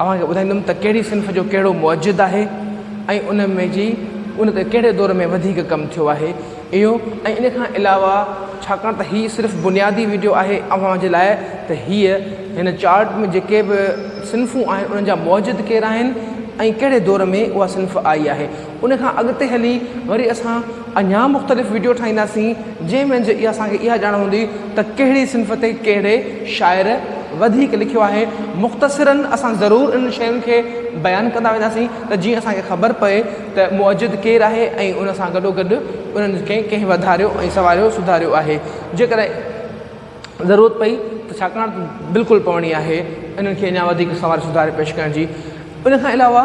اوهان کي ٻڌائيندم ته ڪهڙي صنف جو ڪهڙو موجد آهي ۽ ان ۾ جي ان تي ڪهڙي دور ۾ وڌيڪ ڪم ٿيو آهي اهو ۽ ان کان علاوه ڇاڪاڻ ته هي صرف بنيادي وڊيو آهي اوهان جي لاء ته هيء هن چارٽ ۾ جيڪي به صنفون آهن انهن جا موجد ڪير آهن ۽ ڪهڙي دور ۾ اها صنف آئي آهي ان کان اڳتي هلي وري اسان اڃا مختلف وڊيو ٺاهينداسين جنهن منجهه اها اسان کي اها ڄاڻ هوندي ته ڪهڙي صنف تي ڪهڙي شاعر وڌيڪ لکيو آهي مختصراً اسان ضرور انهن شين کي بيان ڪندا وينداسين ته جيئن اسان کي خبر پئي ته مؤجد ڪير آهي ۽ ان سان گڏو گڏ انهن کي ڪنهن وڌاريو ۽ سنواريو سڌاريو آهي جيڪڏهن ضرورت پئي ته ڇاڪاڻ ته بلڪل پوڻي آهي انهن کي اڃا وڌيڪ سنواري سڌاري پيش ڪرڻ جي ان کان علاوه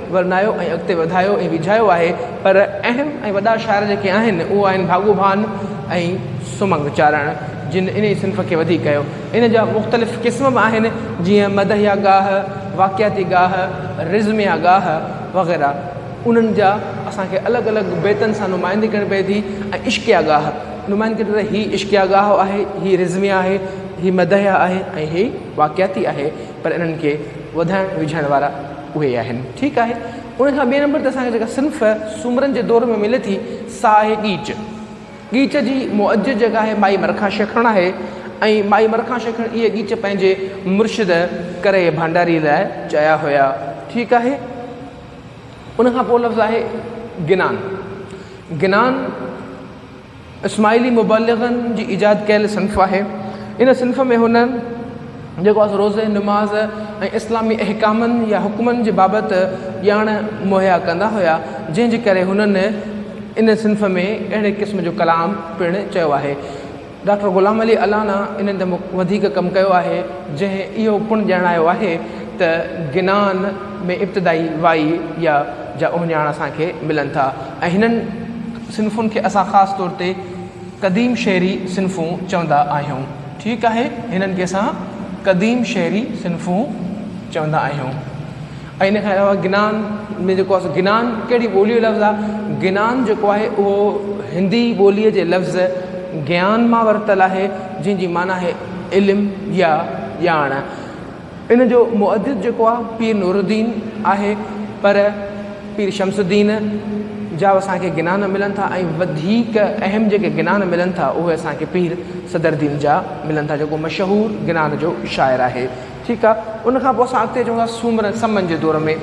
ورنايو ۽ اڳتي وڌايو ۽ ويجهايو آهي پر اهم ۽ وڏا شاعر جيڪي آهن اهو آهن ڀاڳو ڀان ۽ سمنگ چارڻ جن انهي صنف کي وڌيڪ ڪيو ان جا مختلف قسم به آهن جيئن مدحيه گاهه، واقعاتي گاهه، رزميه گاهه وغيره انهن جا اسان کي الڳ الڳ بيتن سان نمائندي ڪرڻي پئي ٿي ۽ عشقيه گاهه نمائندي ڪرڻي هي عشقيه گاهه آهي هي رزميه آهي هي مدحيه آهي ۽ هي واقعاتي آهي. پر انهن کي وڌائڻ وجهائڻ وارا اهي ئي آهن. ٺيڪ آهي. ان کان ٻئي نمبر تي اسان کي جيڪا صنف سومرن جي دور ۾ ملي ٿي سا آهي ڳيچ. ڳيچ جي مؤجج جيڪا آهي مائي مرکان شيخڻ آهي ۽ مائي مرکان شيخڻ اهي ڳيچ پنهنجي مرشد ڪري ڀانڊاري لاء چيا هيا. ٺيڪ آهي. ان کان پوء لفظ آهي گنان. گنان. اسماعيلي مبلغن جي ايجاد ڪيل صنف آهي. ان صنف ۾ هن جيڪو آهي سو روزي، نماز ۽ اسلامي احڪامن يا حڪمن جي بابت ڄاڻ مهيا ڪندا هيا، جنهن جي ڪري هنن ان صنف ۾ اهڙي قسم جو ڪلام پڻ چيو آهي. ڊاڪٽر غلام علي الانا انهن تي وڌيڪ ڪم ڪيو آهي، جنهن اهو پڻ ڄاڻايو آهي ته گنان ۾ ابتدائي وائي يا جا اهڃاڻ اسان کي ملن ٿا ۽ هنن صنفن کي اسان خاص طور تي قديم شعري صنفون چوندا آهيون. ٺيڪ آهي، هنن کي اسان قديم شعري صنفون چوندا آهيون. ۽ ان کان علاوه گنان ۾ جيڪو آهي سو گنان ڪهڙي ٻوليء جو لفظ آهي؟ گنان جيڪو آهي اهو هندي ٻوليء جي لفظ گيان مان ورتل آهي، جنهن جي معنيٰ آهي علم يا ڄاڻ. ان جو مؤدب جيڪو آ پير نور الدين آهي پر پير شمس الدين جا اسان کي گنا نه ملن ٿا ۽ وڌيڪ اهم جيڪي گنا نه ملن ٿا اهي اسان کي پير صدر الدين جا ملن ٿا جيڪو مشهور گنا جو شاعر آهي ٺيڪ آ ان کان پوء اسان اڳتي اچون ٿا سومرن سمن جي دور ۾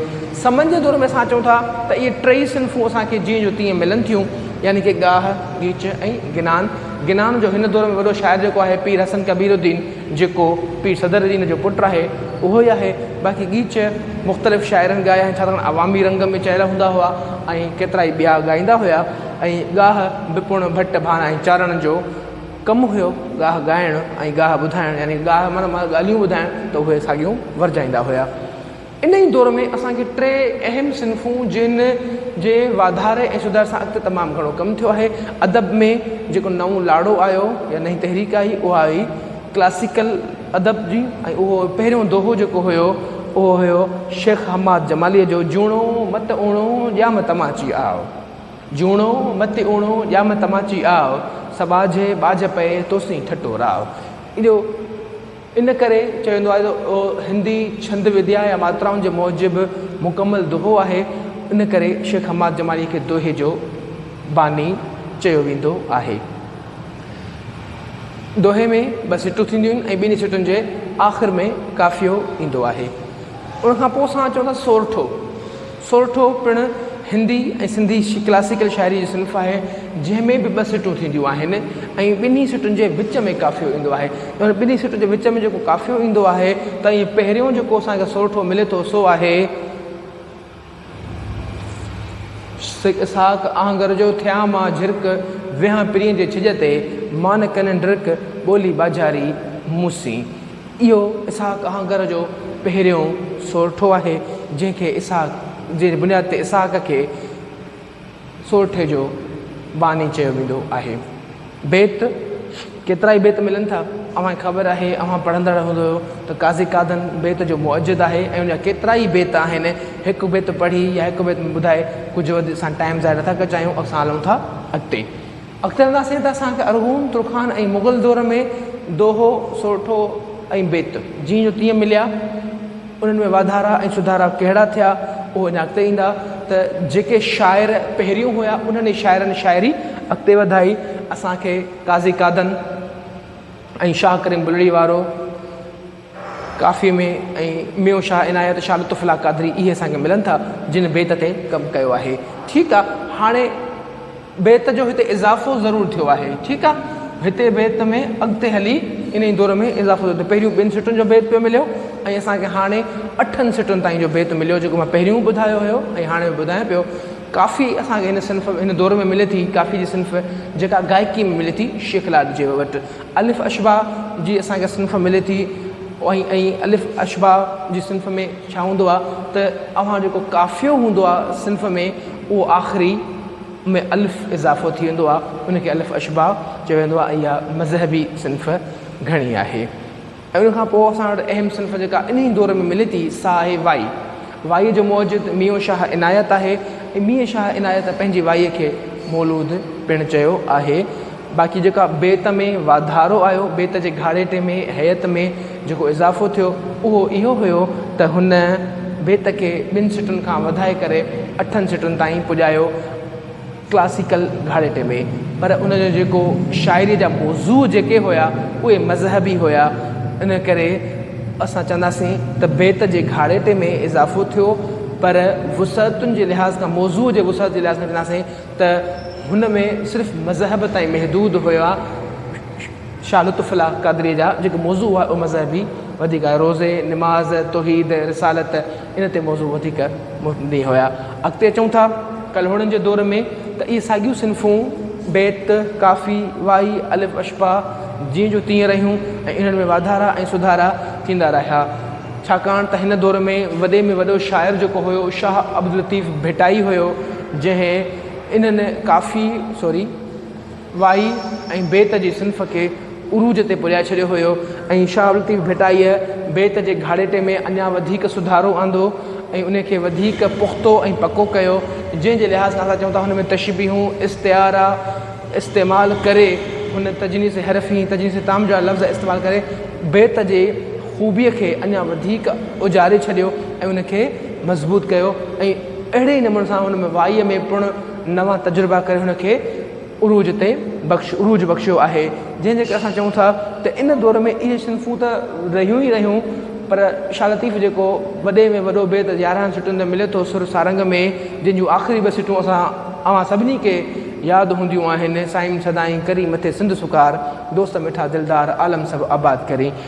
سمن جي دور ۾ اسان چون ٿا ته اهي ٽئي صنفون اسان کي جيئن جو تيئن ملن ٿيون يعني ڪي ڳاهه ڳيچ ۽ گنان گنان جو هن دور ۾ وڏو شاعر جيڪو آهي پير حسن ڪبير الدين جيڪو پير صدر الدين جو پٽ آهي اهو ئي آهي باقي ڳيچ مختلف شاعرن ڳايا آهن ڇاڪاڻ عوامي رنگ ۾ چيل هوندا هئا ۽ ڪيترائي ٻيا ڳائيندا هيا ۽ ڳاهه به پڻ ڀٽ ڀان ۽ چارڻ جو ڪم هيو ڳاهه ڳائڻ ۽ ڳاهه ٻڌائڻ يعني ڳاهه معنيٰ ڳالهيون ٻڌائڻ ته اهي ساڳيون ورجائيندا هيا. انهيء دور ۾ اسان کي ٽي اهم صنفون جن جي واڌاري ۽ سڌار سان اڳتي تمام گهڻو ڪم ٿيو آهي. ادب ۾ جيڪو نئون لاڙو آيو يا نئين تحريڪ آئي اها هئي ڪلاسيڪل ادب جي ۽ اهو پهريون دوهو جيڪو هيو اهو هيو شيخ حماد جماليء جو جوڻو مت اوڻو ڄام تماچي آء جوڻو مت اوڻو ڄام تماچي آء سٻاجهي ٻاجهه پئي توسين ٺٽو راء اهو ان ڪري چيو ويندو آهي ته هندي ڇند وديا يا ماترائن جي موجب مڪمل دوهو آهي، ان ڪري شيخ حماد جماليء کي دوهي جو باني چيو ويندو آهي. دوهي ۾ ٻه سٽون ٿينديون آهن ۽ ٻنهي سٽن جي آخر ۾ قافيو ايندو آهي. ان کان پوء اسان اچون ٿا سورٺو. سورٺو پڻ هندي ۽ سنڌي ڪلاسيڪل شاعري جي صنف آهي، جنهن ۾ به ٻه سٽون ٿينديون آهن ۽ ٻنهي سٽن جي وچ ۾ قافيو ايندو آهي. ان ٻنهي سٽن جي وچ ۾ جيڪو قافيو ايندو آهي ته ائين پهريون جيڪو اسان کي سورٺو ملي ٿو سو آهي. سيد اسحاق آهنگر جو ٿيان مان جهرڪ، ويهان پرينء جي ڇڄ تي، مان نه ڪنهن ڊرڪ، ٻولي ٻاجهاري مون سين. اهو اسحاق آهنگر جو پهريون سورٺو آهي، جنهن کي اسحاق جي بنياد تي اسحاق کي سورٺي جو باني چيو ويندو آهي. بيت، ڪيترا ئي بيت ملن ٿا، اوهان کي خبر آهي، اوهان پڙهندڙ هوندؤ ته قاضي قادن بيت جو مؤجد آهي ۽ ان جا ڪيترا ئي بيت آهن، هڪ بيت پڙهي يا هڪ بيت ۾ ٻڌائي ڪجهه وڌيڪ اسان ٽائيم ضايع نٿا ڪجايون، اسان هلون ٿا اڳتي. اختر الله سيد اسان کي ارغون، ترخان ۽ مغل دور ۾ دوهو، سورٺو ۽ بيت جيئن جو تيئن مليا. انهن ۾ واڌارا ۽ سڌارا ڪهڙا ٿيا اهو اڃا اڳتي ايندا ته جيڪي شاعر پهريون هيا انهن ئي شاعرن شاعري اڳتي وڌائي. اسان کي قاضي قادن ۽ شاهه ڪريم بلڙي وارو. ڪافيء ۾ ۽ ميون شاهه عنايت، شاهه لطف الله قادري اهي اسان کي ملن ٿا، جن بيت تي ڪم ڪيو آهي. ٺيڪ آ، هاڻي بيت جو هتي اضافو ضرور ٿيو آهي. ٺيڪ آ، هتي بيت ۾ اڳتي هلي انهيء دور ۾ اضافو ٿيو ته پهريون ٻن سٽن جو بيت پيو مليو ۽ اسان کي هاڻي اٺن سٽن تائين جو بيت مليو جيڪو مان پهريون ٻڌايو هيو ۽ هاڻي به ٻڌايان پيو. ڪافي اسان کي هن صنف هن دور ۾ ملي ٿي، ڪافي جي صنف جيڪا گائڪي ۾ ملي ٿي شيخ لاڏ جي وٽ. الف اشباع جي اسان کي صنف ملي ٿي ۽ ۽ الف اشباع جي صنف ۾ ڇا هوندو آهي ته اوهان جيڪو قافيو هوندو آهي صنف ۾ اهو آخري ۾ الف اضافو ٿي ويندو آهي ان کي الف اشباع چيو ويندو آهي اها مذهبي صنف گهڻي آهي ۽ ان کان پوء اسان وٽ اهم صنف جيڪا انهيء دور ۾ ملي ٿي سا آهي وائي. وائيء جو موجد ميون شاهه عنايت آهي ۽ مينء شاهه عنايت پنهنجي وائيء کي مولود پڻ چيو آهي. باقي جيڪا بيت ۾ واڌارو آيو، بيت جي گهاڙيٽي ۾، هيئت ۾، جيڪو اضافو ٿيو، اهو اهو هيو ته هن بيت کي ٻن سٽن کان وڌائي ڪري اٺن سٽن تائين پڄايو. ڪلاسيڪل گهاڙيٽي ۾، پر ان جو جيڪو شاعريء جا موضوع جيڪي هيا اهي مذهبي هيا، ان ڪري اسان چونداسين ته بيت جي گهاڙيٽي ۾ اضافو ٿيو، پر وسعتن جي لحاظ کان موضوع جي وسعت جي لحاظ کان چونداسين ته هن ۾ صرف مذهب تائين محدود هيا، شاهه لطف الله قادريء جا جيڪي موضوع هئا اهي مذهبي وڌيڪ هيا، روزي، نماز، توحيد، رسالت. ان تي موضوع وڌيڪ مبني هيا. اڳتي اچون ٿا ڪلهوڙن جي دور ۾ ته اهي ساڳيون صنفون بيت، ڪافي، وائي، الف اشباع جيئن جو تيئن رهيون ۽ انهن ۾ واڌارا ۽ سڌارا ٿيندا رهيا. ڇاڪاڻ ته هن دور ۾ وڏي ۾ وڏو شاعر جيڪو هيو شاهه عبداللطيف ڀٽائي هيو جنهن انهن ڪافي، سوري. وائي ۽ بيت جي صنف کي عروج تي پڄائي ڇڏيو هيو ۽ شاهه لطيف ڀٽائيء بيت جي گهاڙيٽي ۾ اڃا وڌيڪ سڌارو آندو ۽ ان کي وڌيڪ پختو ۽ پڪو ڪيو، جنهن جي لحاظ کان اسان چئون ٿا هن ۾ تشبيهون، استعارا استعمال ڪري هن تجنيس حرفي ۽ تجنيس تام جا لفظ استعمال ڪري بيت جي خوبيء کي اڃا وڌيڪ اجاري ڇڏيو ۽ ان کي مضبوط ڪيو ۽ اهڙي ئي نموني سان هن وائيء ۾ پڻ نوان تجربا ڪري هن کي عروج تي بخش عروج بخشيو آهي جنهن جي ڪري اسان چئون ٿا ته ان دور ۾ اهي صنفون ته رهيون ئي رهيون پر شاهه لطيف جيڪو وڏي ۾ وڏو بيت يارهن سٽن تي ملي ٿو سر سارنگ ۾ جنهن جون آخري ٻه سٽون اسان اوهان سڀني کي ياد هونديون آهن سائين سدائين ڪري مٿي سنڌ سڪار دوست مٺا دلدار عالم سڀ آباد ڪرين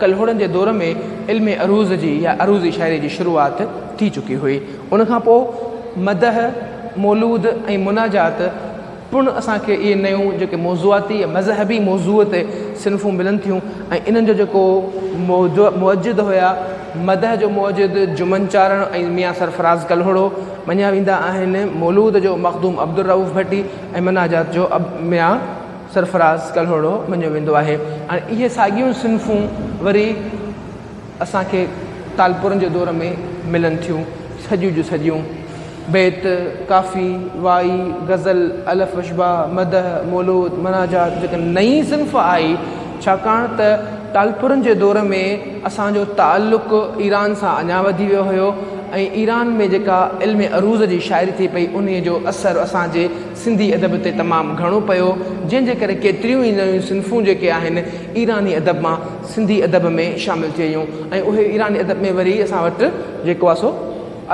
ڪلهوڙن جي دور ۾ علم عروض جي يا عروضي شاعري جي شروعات ٿي چڪي هئي. ان کان پوء مدح، مولود ۽ مناجات پڻ اسان کي اهي نيون جيڪي موضوعاتي يا مذهبي موضوع تي صنفون ملن ٿيون ۽ انهن جو جيڪو موجع موجد هيا، مدح جو موجد جمن چارڻ ۽ ميان سرفراز ڪلهوڙو مڃيا ويندا آهن، مولود جو مخدوم عبدالرئوف ڀٽي ۽ مناجات جو ميان. سرفراز ڪلهوڙو مڃيو ويندو آهي ۽ اهي ساڳيون صنفون وري اسان کي ٽالپرن جي دور ۾ ملن ٿيون، سڄيون جو سڄيون، بيت، ڪافي، وائي، غزل، الف اشباع، مدح، مولود، مناجات جيڪا نئين صنف آهي ڇاڪاڻ ته ٽالپرن جي دور ۾ اسان جو تعلق ايران سان اڃا وڌي ويو هيو ۽ ايران ۾ جيڪا علم عروض جي شاعري ٿي پئي انهيء جو اثر اسان جي سنڌي ادب تي تمام گهڻو پيو، جنهن جي ڪري ڪيتريون ئي نيون صنفون جيڪي آهن ايراني ادب مان سنڌي ادب ۾ شامل ٿي ويون ۽ اهي ايراني ادب ۾ وري اسان وٽ جيڪو آهي سو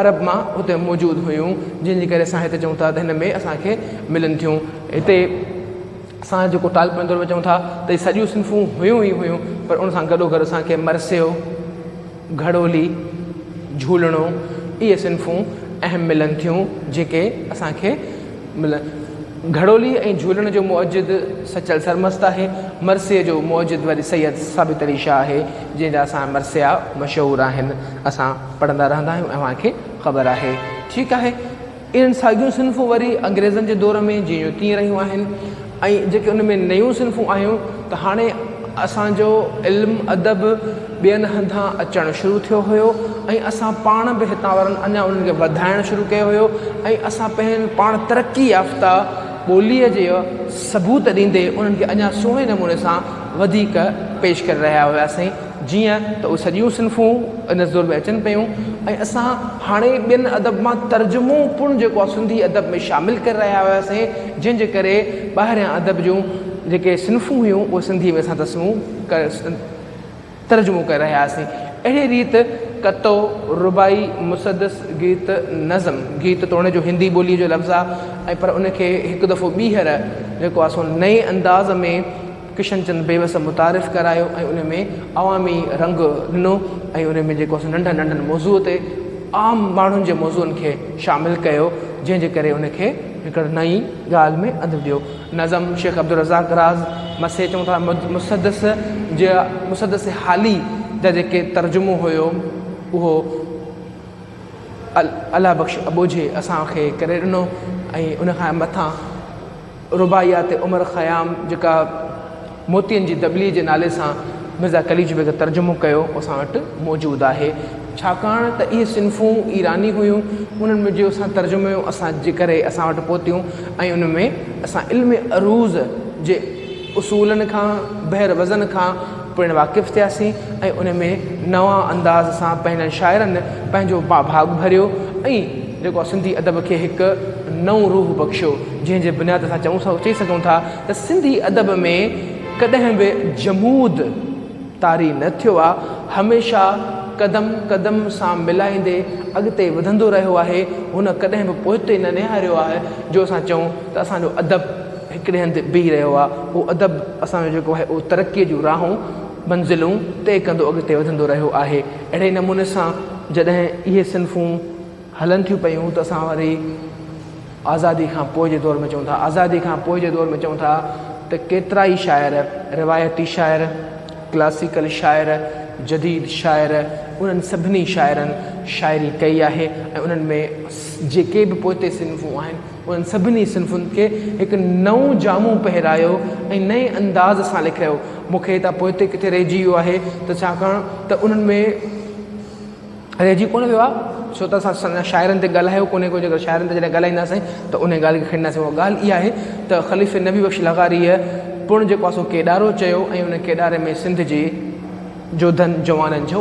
عرب مان هتي موجود هيون جنهن جي ڪري اسان هتي چئون ٿا ته هن ۾ اسان کي ملن ٿيون هتي اسان جيڪو ٽالپرن دور ۾ چئون ٿا ته هي سڄيون صنفون هيون ئي هيون پر ان سان گڏو گڏ اسان کي مرثيو، گهڙولي، جهولڻو اهي صنفون اهم ملن ٿيون جيڪي اسان کي ملن. گهڙولي ۽ جهولڻ جو موجد سچل سرمست آهي. مرثيي جو موجد وري سيد ثابت علي شاهه آهي جنهن جا اسان مرثيا مشهور آهن. اسان پڙهندا رهندا آهيون اوهان کي خبر آهي. ٺيڪ آهي. اهڙيون ساڳيون صنفون وري انگريزن جي دور ۾ جيئن جو تيئن رهيون آهن ۽ جيڪي ان ۾ نيون صنفون آيون ته هاڻي اسان جو علم ادب ٻين هنڌان اچڻ شروع ٿيو هيو ۽ اسان پاڻ به هتان وارن اڃا انهن کي وڌائڻ شروع ڪيو هيو ۽ اسان پنهنجي پاڻ ترقي يافته ٻوليء جي ثبوت ڏيندي انهن کي اڃا سهڻي نموني سان وڌيڪ پيش ڪري رهيا هياسين جيئن ته اهي سڄيون صنفون ان دور ۾ اچن پيون ۽ اسان هاڻي ٻين ادب مان ترجمو پڻ جيڪو آهي سنڌي ادب ۾ شامل ڪري رهيا هياسين جنهن جي ڪري ٻاهريان ادب جون جيڪي صنفون هيون اهي سنڌي ۾ اسان تسمو ترجمو ڪري رهيا هياسين اهڙي ريت ڪتو، رباعي، مسدس، گيت، نظم، گيت توڻي جو هندي ٻوليء جو لفظ آهي ۽ پر ان کي هڪ دفعو ٻيهر جيڪو آهي سو نئين انداز ۾ ڪشن چند بيوس متعارف ڪرايو ۽ ان ۾ عوامي رنگ ڏنو ۽ ان ۾ جيڪو ننڍن ننڍن موضوع تي عام ماڻهن جي موضوعن کي شامل ڪيو جنهن جي ڪري ان کي هڪڙ نئين ڳالهه ۾ انڌ ڏيو نظم شيخ عبدالرزاق راز مسي چون ٿا مسدس جي مسدس حالي جا جيڪي ترجمو هيو اهو الله بخش ابوجهي اسان کي ڪري ڏنو ۽ ان کان مٿان رباعيات عمر خيام جيڪا موتين جي دٻلي جي نالي سان مرزا قليچ بيگ ترجمو ڪيو اسان وٽ موجود آهي ڇاڪاڻ ته اهي صنفون ايراني هيون انهن ۾ جو اسان ترجمو اسان جي ڪري اسان وٽ پهتيون ۽ ان ۾ اسان علم عروض جي اصولن کان بحر وزن کان پڻ واقف ٿياسين ۽ ان ۾ نوان انداز سان پنهنجن شاعرن پنهنجو ڀاڳ ڀريو ۽ جيڪو آ سنڌي ادب کي هڪ نئون روح بخشيو جنهن جي بنياد اسان چئون ٿا چئي سگهون ٿا ته سنڌي ادب ۾ ڪڏهن به جمود طاري نه ٿيو آ هميشه قدم قدم سان ملائيندي اڳتي وڌندو رهيو آهي هن ڪڏهن به پوئتي نه نهاريو آهي جو اسان چئون ته اسان جو ادب هڪڙي هنڌ بيهي رهيو آهي اهو ادب اسان جو جيڪو آهي اهو ترقي جون راهون منزلون طئي ڪندو اڳتي وڌندو رهيو آهي اهڙي نموني سان جڏهن اهي صنفون هلن ٿيون پيون ته اسان وري آزادي کان پوء جي دور ۾ چون ٿا آزادي کان پوء جي دور ۾ چون ٿا ته ڪيترا ئي شاعر روايتي شاعر ڪلاسيڪل شاعر جديد شاعر انهن سڀني شاعرن شاعري ڪئي آهي ۽ انهن ۾ جيڪي به پوئتي صنفون آهن انهن سڀني صنفن کي هڪ نئون جامو پهرايو ۽ نئين انداز سان لکرايو. مون کي هتان پوئتي ڪٿي رهجي ويو آهي ته ڇاڪاڻ ته انهن ۾ رهجي ڪونه ويو آهي ڇو ته اسان سڃا شاعرن تي ڳالهايو ڪونه ڪو جيڪر شاعرن تي جڏهن ڳالهائينداسين ته انهيء ڳالهه کي کڻينداسين اها ڳالهه اها آهي ته خليفي نبي بخش لغاريء پڻ جيڪو آهي سو ڪيڏارو چيو ۽ ان ڪيڏاري ۾ سنڌ جي جوڌن جوانن جو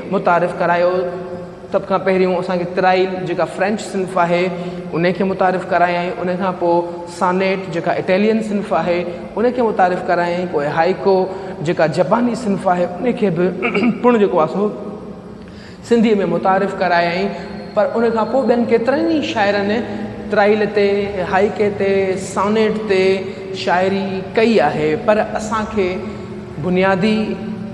متعارف ڪرايو سڀ کان پهريون اسان کي ترائيل جيڪا فرينچ صنف آهي ان کي متعارف ڪرايائين ان کان پوء سانيٽ جيڪا اٽيلين صنف آهي ان کي متعارف ڪرايائين پوء هائيڪو جيڪا جپاني صنف آهي ان کي به پڻ جيڪو آهي سو سنڌي ۾ متعارف ڪرايائين پر ان کان پوء ٻين ڪيترن ئي شاعرن ترائيل تي هائيڪي تي سانيٽ تي شاعري ڪئي آهي پر اسان کي بنيادي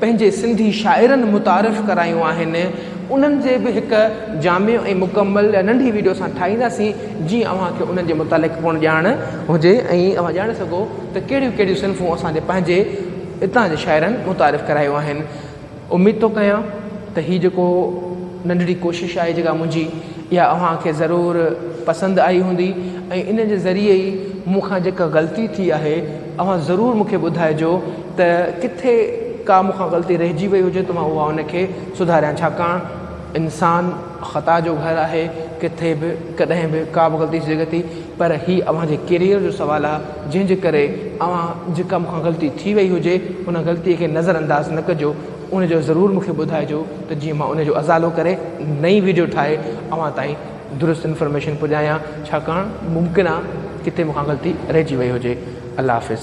پنهنجي سنڌي شاعرن متعارف ڪرايون آهن انهن جي به هڪ جامع ۽ مڪمل ننڍي ويڊيو اسان ٺاهينداسين جيئن اوهان کي انهن جي متعلق پڻ ڄاڻ هجي ۽ اوهان ڄاڻي سگهو ته ڪهڙيون ڪهڙيون صنفون اسان جي پنهنجي اتان جي شاعرن متعارف ڪرايون آهن اميد ٿو ڪيان ته هي جيڪو ننڍڙي ڪوشش آهي جيڪا منهنجي اها اوهان کي ضرور پسند آئي هوندي ۽ ان جي ذريعي ئي مون کان جيڪا غلطي ٿي آهي اوهان ضرور مون کي ٻڌائجو ته ڪٿي ڪا مون کان غلطي رهجي وئي هجي ته مان اها ان کي سڌاريان ڇاڪاڻ انسان خطا جو گهر آهي ڪٿي به ڪڏهن به ڪا به غلطي ٿي سگهي ٿي پر هي اوهان جي ڪيريئر جو سوال آهي جنهن جي ڪري اوهان جيڪا مون کان غلطي ٿي وئي هجي ان غلطي کي نظر انداز نه ڪجو ان جو ضرور مون کي ٻڌائجو ته جيئن مان ان جو ازالو ڪري نئي ويڊيو ٺاهي اوهان تائين درست انفارميشن پڄايان ڇاڪاڻ ممڪن آ ڪٿي مونکان غلطي رهجي وئي هجي الله حافظ.